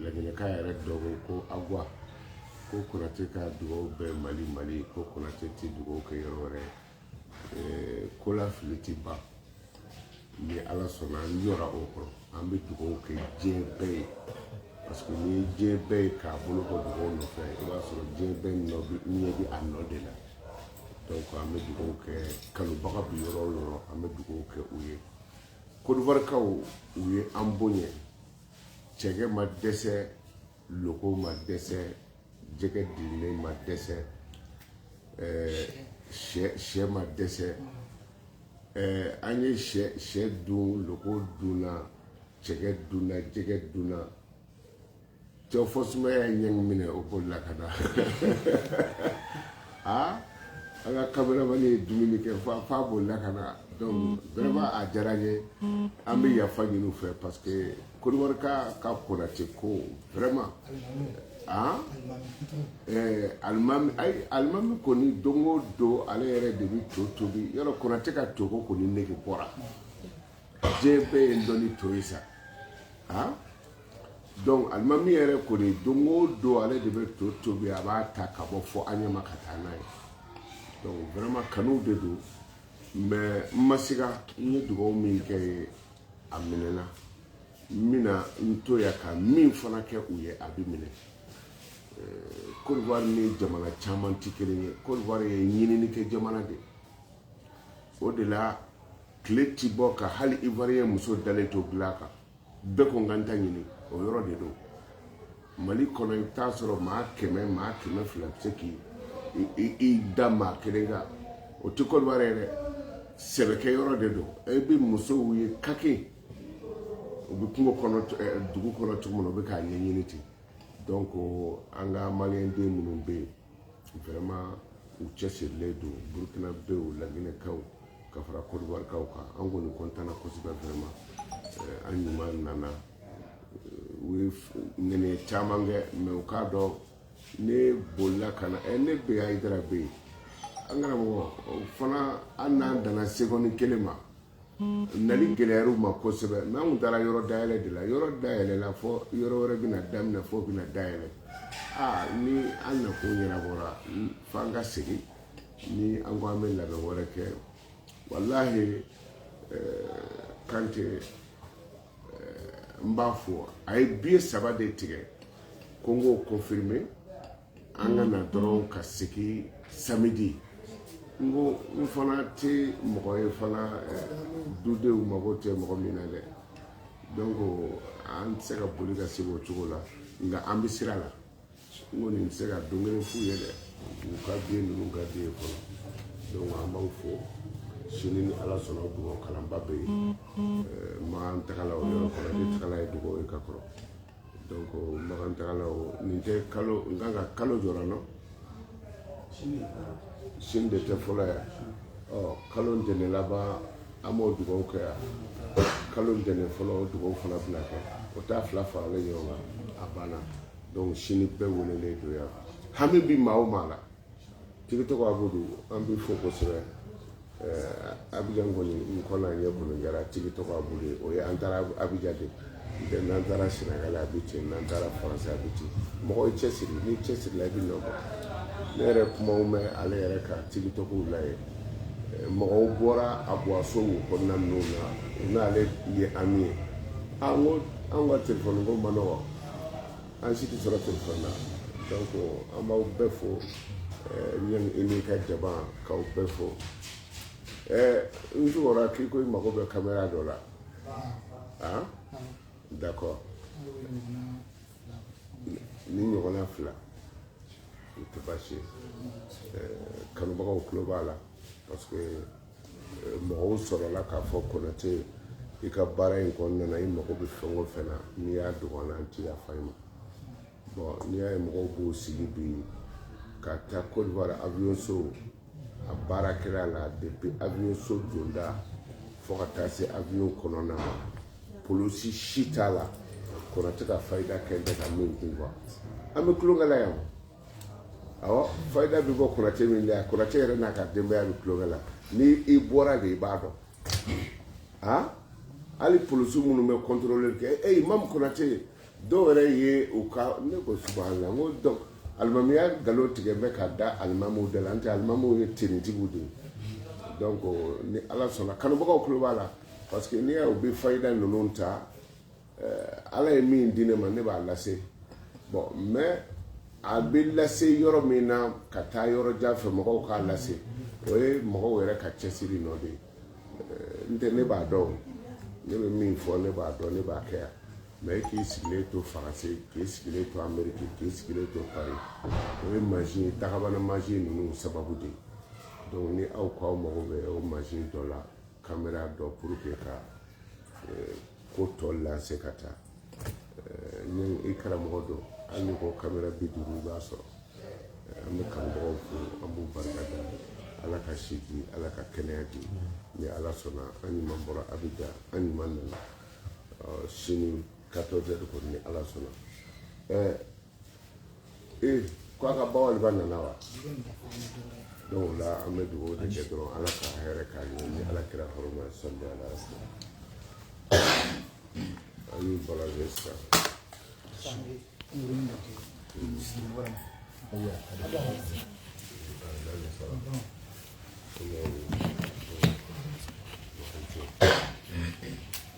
laginɛka yɛrɛ dɔ ko ko agwa ko konate ka dugawu bɛ mali mali ko konate tɛ dugawu kɛ yɔrɔ wɛrɛ eh, ko la fili tɛ ban ni ala sɔnna an yɔrɔ o kɔrɔ an bɛ dugawu kɛ diɲɛ bɛɛ ye parce que ni diɲɛ bɛɛ ye k'a bolo bɔ dugawu nɔfɛ i b'a sɔrɔ diɲɛ bɛɛ ɲɛ bɛ a nɔ de la donc an bɛ dugawu kɛ kanubaga bi yɔrɔ o yɔrɔ an bɛ dugawu kɛ u ye Kodiwarikaw u ye an bonya cɛkɛ ma dɛsɛ loko ma dɛsɛ jɛgɛ dilannen ma dɛsɛ sɛ ma dɛsɛ an ye sɛ dun loko dunna cɛkɛ dunna jɛgɛ dunna cɛw fɔ sumaya ye ɲɛŋ minɛ o bolila ka na a an ka kameramani ye dumuni kɛ f'a bolila ka na donc vraiment a diyara n ye an bɛ yafa ɲini u fɛ parce que Kodiwarikaw ka konate ko vraiment an ɛɛ alimami ayi alimami kɔni don o don ale yɛrɛ de bɛ to tobi yɔrɔ konate ka to ko kɔni nege bɔra diɲɛ bɛɛ ye n dɔn ni to ye sa an Donc alimami yɛrɛ kɔni don o don ale de bɛ to tobi a b'a ta ka bɔ fɔ aɲama ka taa n'a ye donc vraiment kanu de don mais n ma se n ye dugaw min kɛ yen a minɛna n bɛna n to yan ka min fana kɛ u ye a bɛ minɛ Kodiwari ni jamana caman tɛ kelen ye Kodiwari ye ɲinini kɛ jamana de o de la tile tɛ bɔ ka hali iwariyɛn muso dalen to dilan kan bɛɛ ko n ka n ta ɲini o yɔrɔ de don mali kɔnɔ i bɛ taa sɔrɔ maa kɛmɛ maa kɛmɛ fila bɛ se k'i da maa kelen kan o tɛ kodiwari ye dɛ sɛbɛkɛ yɔrɔ de don e bɛ musow ye kake u bɛ kungo kɔnɔ dugu kɔnɔ cogo min na u bɛ k'a ɲɛɲini ten donc an ka maliyɛnden minnu bɛ yen vraiment u cɛsirilen don burukinabew laginɛkaw ka fara kodiwarikaw kan an kɔni kɔntanna kosɛbɛ vraiment eh, an ɲuman nana eh, u ye nɛnɛ caman kɛ mais u k'a dɔn ne bolila ka na eh, ne bɛ hayidara bɛ yen an karamɔgɔ o fana an n'an danna seconde kelen ma Nali gɛlɛyar'u ma kosɛbɛ mais an tun taara yɔrɔ dayɛlɛ de la yɔrɔ dayɛlɛla fɔ yɔrɔ wɛrɛ bɛna daminɛ fɔ bɛna dayɛlɛ aa ni an nakun ɲɛnabɔra f'an ka segin ni an ko an bɛ labɛn wɛrɛ kɛ walayi kante n b'a fɔ a ye biye saba de tigɛ ko n k'o kɔnfirime an ka na dɔrɔn ka segin samedi n ko n fana tɛ mɔgɔ ye fana dudenw mago tɛ mɔgɔ min na dɛ donc an tɛ se ka boli ka segin o cogo la nka an bɛ sira la n kɔni tɛ se ka don kelen f'u ye dɛ u ka den ninnu ka den fɔlɔ donc an b'aw fo sini ni ala sɔnna o dugawu kalanba bɛ yen Makan tagala o yɔrɔ kɔrɔ ne tagala ye dugawu ye ka kɔrɔ Makan tagala nin tɛ kalo n kan ka kalo jɔra nɔ sini de tɛ fɔlɔ yan ɔ kalo ntɛnɛn laban an b'o dugawu kɛ yan kalo ntɛnɛn fɔlɔ o dugawu fana bɛna kɛ o t'a fila faralen ɲɔgɔn kan a banna donc sini bɛɛ welelen don yan hami bi maa o maa la Tigi tɔgɔ Abudu an b'i fo kosɛbɛ ɛɛ Abijan kɔni n kɔ n'a ɲɛ kɔni kɛra tigi tɔgɔ Abudu ye o ye an taara Abijan de n'tɛ n'an taara Senegali a bɛ ten n'an taara France a bɛ ten mɔgɔ i cɛsiri n'i cɛsirila i bɛ nɔ bɔ ne yɛrɛ kumaw mɛn ale yɛrɛ ka tigi tɔgɔw la ye mɔgɔw bɔra aviyoso kɔnɔna ninnu na u n'ale ye ami ye an ko an ka telefɔni ko man nɔgɔ an si tɛ sɔrɔ telefɔni na donc an b'aw bɛɛ fo ɲɛni e n'i ka jama k'aw bɛɛ fo n jugɔra k'i ko i mago bɛ kamera dɔ la ah d'accord ni ɲɔgɔnna fila o tɛ baasi ye kanubagaw tulo b'a la parce que mɔgɔw sɔrɔla k'a fɔ Konate i ka baara in kɔnɔna na i mago bɛ fɛn o fɛn na n'i y'a dogo an na an ti yafa i ma bon n'i y'a ye mɔgɔw b'o sigi bi ka taa kodiwari aviyoso a baarakɛla la depuis aviyoso donda fo ka taa se aviyo kɔnɔna ma polisi si t'a la Konate ka fayida kɛ tɛ ka min kun quoi an bɛ tulonkɛ la yan Ɔ fayida bɛ bɔ Konate min la Konate yɛrɛ n'a ka denbaya bɛ tulonkɛ la ni i bɔra de i b'a dɔn a hali polisiw minnu bɛ contrôle kɛ imam Konate ye dɔw yɛrɛ ye u ka ne ko la ko donc alimamiya nkalon tigɛ bɛ ka da alimamu da la n tɛ alimamu ye tiɲɛtigi de ye donc ni ala sɔnna kanubagaw tulo b'a la parce que n'i y'a ye u bɛ fayida ninnu ta ala ye min di ne ma ne b'a lase bon mais a bɛ lase yɔrɔ min na ka taa yɔrɔ jan fɛ mɔgɔw k'a lase o ye mɔgɔw yɛrɛ ka cɛsiri nɔ de ye n tɛ ne b'a dɔn ne bɛ min fɔ ne b'a dɔn ne b'a kɛ yan mais k'i sigilen to faransi k'i sigilen to ameriki k'i sigilen to pari o ye mansin ye dakabana mansin ninnu sababu de ye donc ni aw k'aw mago bɛ o mansin dɔ la kamera dɔ pour que ka ko tɔ lanse ka taa ni i karamɔgɔ don hali ni ko kamera bi duuru i b'a sɔrɔ an bɛ kanubagaw fo an b'u barika da ala ka si di ala ka kɛnɛya di ni ala sɔnna an ɲuman bɔra Abidjan an ɲuman nana sini 14 heures kɔni ni ala sɔnna ee ko a ka bawaliba nana wa donc o la an bɛ dugawu de kɛ dɔrɔn ala ka hɛrɛ k'a ye ni ala kira hɔrɔma salli ala sisan an y'u balazɛ sisan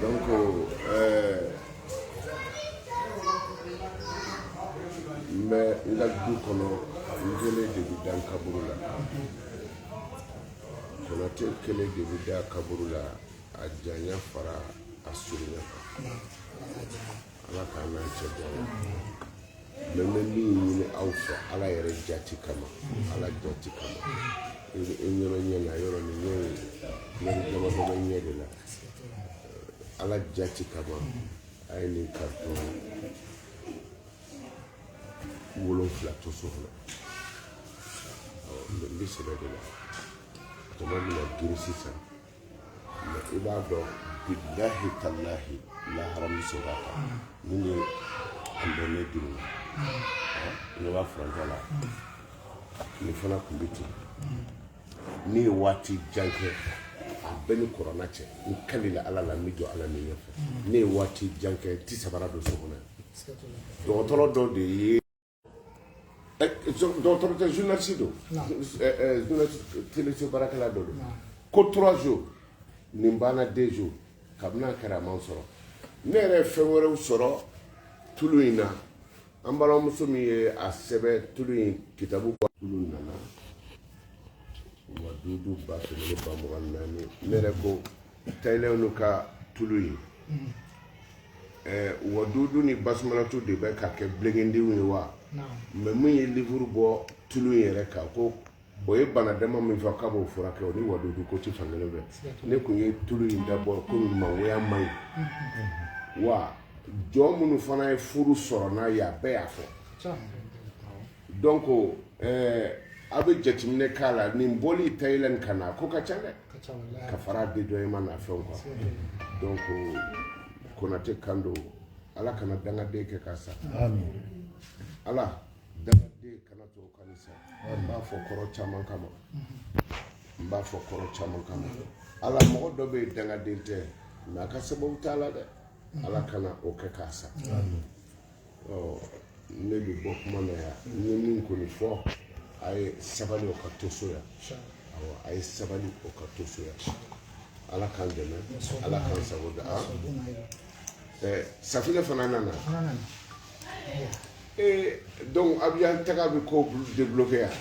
donc ɛɛ n bɛ n ka du kɔnɔ n kelen de bɛ da n kaburu la konate kelen de bɛ da kaburu la a janya fara a surunya kan. ala k'an n'an cɛ bɔ a la mɛ n bɛ min ɲini aw fɛ ala yɛrɛ jati kama ala jati kama i bɛ i ɲɛna ɲɛ na yɔrɔ nin ɲɛ ye ɲɛri dama dama ɲɛ de la ala jati kama a ye nin karitɔn wolonfila to so kɔnɔ n bɛ sɛbɛ de la jama bɛna girin sisan i b'a dɔn bilahi talahi lahara min sɔrɔ ka ta min ye an bɛ ne dimi na ne b'a furancɛ la ne fana tun bɛ ten ne ye waati jan kɛ a bɛɛ ni kɔrɔna cɛ n kalila ala la n bɛ jɔ ala min ɲɛfɛ ne ye waati jan kɛ n ti sabara don so kɔnɔ dɔgɔtɔrɔ dɔ de ye Eh, dɔgɔtɔrɔ tɛ journaliste don teleso baarakɛla dɔ don ko trois jours nin banna deux jours kabini a kɛra a man sɔrɔ ne yɛrɛ ye fɛn wɛrɛw sɔrɔ tulu in na an balimamuso min ye a sɛbɛn tulu in kitabu bɔ tulu nana wadudu ba kɛmɛ ni ba mugan ni naani ne yɛrɛ ko Tayɛlɛw n'u ka tulu ye ɛɛ wadudu ni basumalatu de bɛ ka kɛ bilenkedenw ye wa mɛ min ye liburu bɔ tulu in yɛrɛ kan ko o ye bana dama min fɔ k'a b'o furakɛ o ni wadudu ko tɛ fan kelen fɛ ne kun ye tulu in dabɔ ko mangoya man ɲi wa jɔn minnu fana ye furu sɔrɔ n'a ye a bɛɛ y'a fɔ Donc ɛɛ aw bɛ jateminɛ k'a la nin bɔli tayilɛn ka na a ko ka ca dɛ ka fara dédouanement n'a fɛnw kan donc konate kan don ala kana dangaden kɛ k'a san ala dangaden kana to k'a san n b'a fɔ kɔrɔ caman kama n b'a fɔ kɔrɔ caman kama ala mɔgɔ dɔ bɛ yen dangaden tɛ nka a ka sababu t'a la dɛ ala kana o kɛ k'a san ne bɛ bɔ kuma na yan n ye min kɔni fɔ a ye sabali o ka to so yan a ye sabali o ka to so yan ala k'an dɛmɛ ala k'an sago da safinɛ fana nana ee donc abijan taga bɛ ko débloquer yan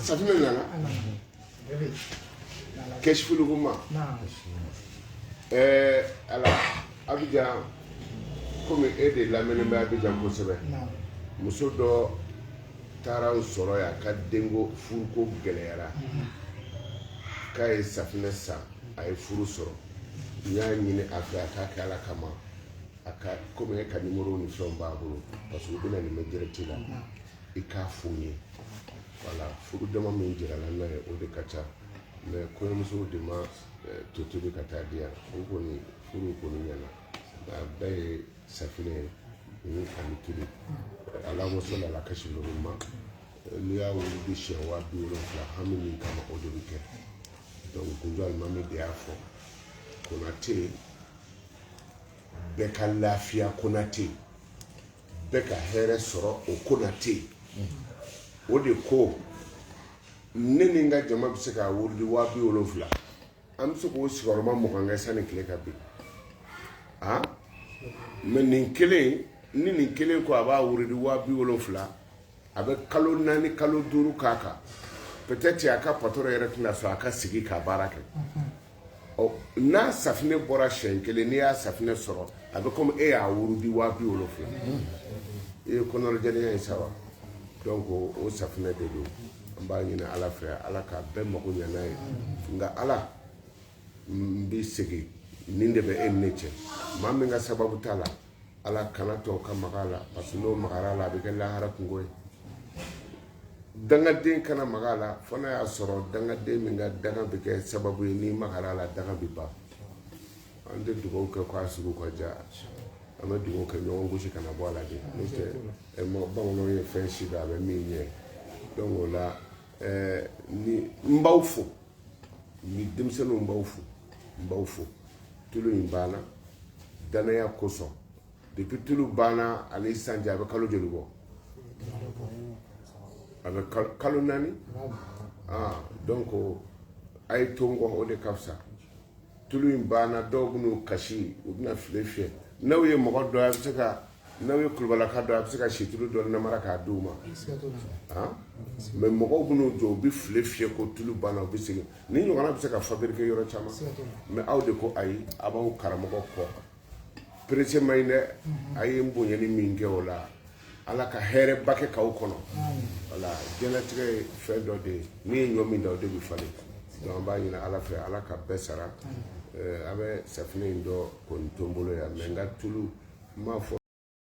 safinɛ nana kɛsifulukuma ɛɛ ala abijan komi e de lamɛnnen bɛ abijan kosɛbɛ muso dɔ taara n sɔrɔ yan a ka denko furuko gɛlɛyara mm-hmm. k'a ye safinɛ san a ye furu sɔrɔ n y'a ɲini a fɛ a k'a kɛ ala kama a ka komi e ka nimoro ni fɛnw b'a bolo parce que u b'an lamɛn direct la mm-hmm. i k'a f'u ye Voilà furu dama min jirala n'a ye o de ka ca mais kɔɲɔmusow de ma to tobi ka taa di yan o kɔni furu kɔni ɲɛna a bɛɛ ye safinɛ ye ni ani tulu allahumma salli ala kasima n'i y'a wurudi siɲɛ waa bi wolonwula hami min kama o de bɛ kɛ donc kunjɔ alimami de y'a fɔ konate bɛɛ ka lafiya konate bɛɛ ka hɛrɛ sɔrɔ o konate o de ko ne ni n ka jama bɛ se k'a wurudi waa bi wolonwula an bɛ se k'o sigiyɔrɔma mugan kɛ sanni tile ka bin mais nin kelen ni nin kelen ko a b'a wurudi waa bi wolonwula a bɛ kalo naani kalo duuru k'a kan peut-être a ka patron yɛrɛ tɛna sɔn a ka sigi ka baara kɛ ɔ n'a safinɛ bɔra siyɛn kelen n'i y'a safinɛ sɔrɔ a bɛ komi e y'a wurudi waa bi wolonwula i ye kɔnɔnajɛlenya ye sa wa donc o o safinɛ de don an b'a ɲini ala fɛ ala ka bɛɛ mago ɲɛ n'a ye nka ala n b'i segin nin de bɛ e ni ne cɛ maa min ka sababu t'a la Ala kana to ka maga a la parce que n'o magara a la a bɛ kɛ lahara kunko ye dangaden kana maga a la fo n'a y'a sɔrɔ dangaden min ka danga bɛ kɛ sababu ye n'i magara a la danga bɛ ban an tɛ dugawu kɛ k'a sugu ka diya an bɛ dugawu kɛ ɲɔgɔn gosi kana bɔ a la de n'o tɛ mɔgɔ bamananw ye fɛn si a bɛ min ɲɛ dɔn la ɛɛ ni n b'aw fo ni denmisɛnninw b'aw fo n b'aw fo tulu in banna danaya kosɔn depuis tulu banna ani sisan cɛ a bɛ kalo joli bɔ a bɛ kalo kalo naani ah donc a ye to n kɔ o de ka fisa tulu in banna dɔw bɛn'u kasi u bɛna file fiyɛ n'aw ye mɔgɔ dɔ ye a bɛ se ka n'aw ye kulubalilaka dɔ a bɛ se ka situlu dɔ namara k'a d'i ma mais mɔgɔw bɛn'u jɔ u bɛ file fiyɛ ko tulu banna u bɛ segin nin ɲɔgɔnna bɛ se ka fabriquer yɔrɔ caman mais aw de ko ayi a b'aw karamɔgɔ kɔ pressé ma ɲi dɛ a ye n bonyani min kɛ o la ala ka hɛrɛba kɛ k'aw kɔnɔ voilà diɲɛlatigɛ ye fɛn dɔ de ye n'i ye ɲɔ min da o de bɛ falen Donc an b'a ɲini Ala fɛ Ala ka bɛɛ sara ɛɛ a bɛ safinɛ in dɔ kɔni to n bolo yan mais n ka tulu n m'a fɔ